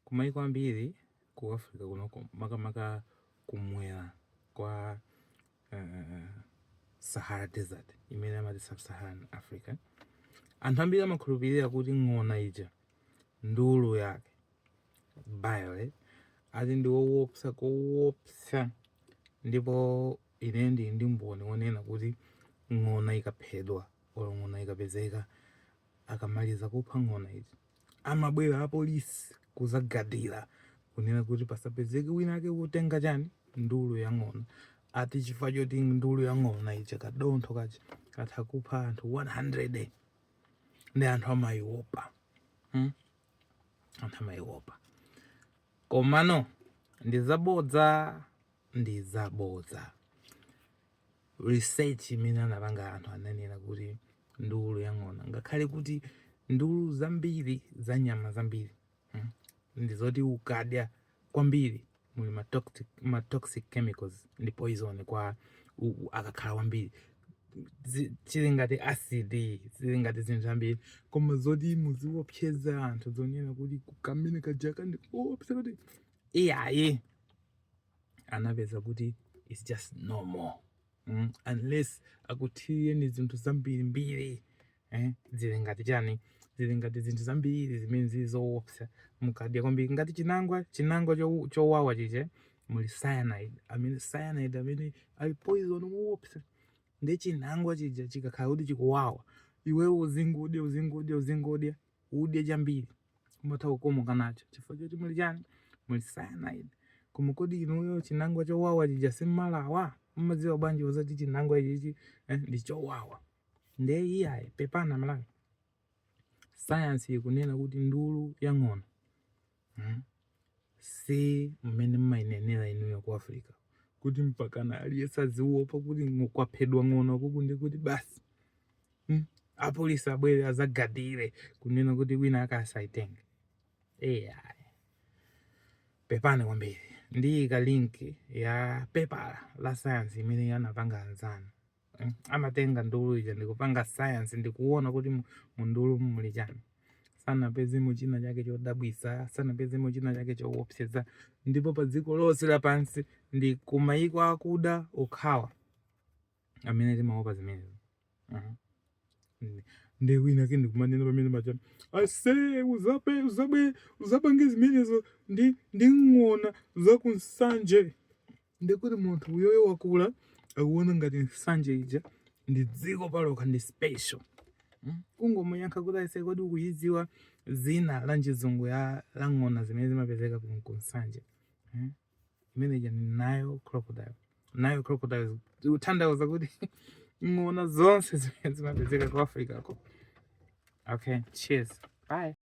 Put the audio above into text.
Kumayiko ambiri ku Africa kunoko, makamaka kumwera kwa uh, Sahara Desert imene amati Sub-Saharan Africa, anthu ambiri amakhulupirira kuti ng'ona ija ndulu yake bile ati ndi wowopsa kowopsa, ndipo ine ndili ndi mboni wonena kuti ng'ona ikaphedwa olo ng'ona ikapezeka akamaliza kupha ng'ona ija amabwera apolisi kuzagadira kunena kuti pasapezeke wina wake kutenga chani ndulu ya ng'ona ati chifukwa choti ndulu ya ng'ona ija kadontho kaja katha kupha anthu 100 nde anthu amaiopa hmm? anthu amaiopa komano ndizabodza ndizabodza research imene anapanga anthu ananena kuti ndulu ya ng'ona ngakhale kuti ndulu zambiri za nyama zambiri hmm, ndi zoti ukadya kwambiri muli ma toxic, ma toxic chemicals ndi poison koma akakhala kwambiri zili ngati acid zili ngati zinthu zambiri koma zoti muziwopseza anthu zonena kuti kamene kajaka ndi koopsa kuti iyayi anapeza kuti its just normal mm? unless akuthirireni zinthu zambirimbiri eh? zili ngati chani zili ngati zinthu zambiri zimene zili zoopsa mukadya kwambiri ngati chinangwa chinangwa chowawa chija muli cyanide amene cyanide amene ali poison woopsa nde chinangwa chija chikakhala kuti chikuwawa iweyo uzingodya uzingodya uzingodya udya chambiri umatha kukomoka nacho chifukwa choti muli chani muli cyanide koma kodi inuyo chinangwa chowawa chija simmalawa mmadziwa bwanji zoti chinangwa ichichi eh, ndi chowawa nde iyayi pepana malawi sayansi ikunena kuti ndulu ya ng'ona mm? si mmene mmayinenera inuyo ku africa kuti mpakana aliyense aziwopa kuti kwaphedwa ng'ona uku nde kuti basi mm? apolisi abwere azagadire kunena kuti wina asakaitenge eya pepani kwambiri ndiyika link ya pepala la sayansi imene anapanga anzanu mm, amatenga ndulu ija ndikupanga science ndikuona kuti mundulu muli chani sanapezemo china chake chodabwisa sanapezemo china chake chowopseza ndipo pa dziko lonse lapansi ndi kumayiko akuda okhawa amene timaopa zimenezo mhm. nde wina wake ndikumanena pamene macha ase uzape uzabe uzapange zimenezo ndi ndi ng'ona zaku Nsanje ndi kuti munthu uyoyo wakula akuona ngati nsanje ija ndi dziko palokha ndi special hmm? kungomuyankha kuti aise kodi ukuyidziwa dzina la chizungu la ng'ona zimene zimapezeka ku nsanje hmm? imene ija ndi Nile crocodile Nile crocodile kutanthauza kuti ng'ona zonse zimene zimapezeka ku africa ko okay cheers bye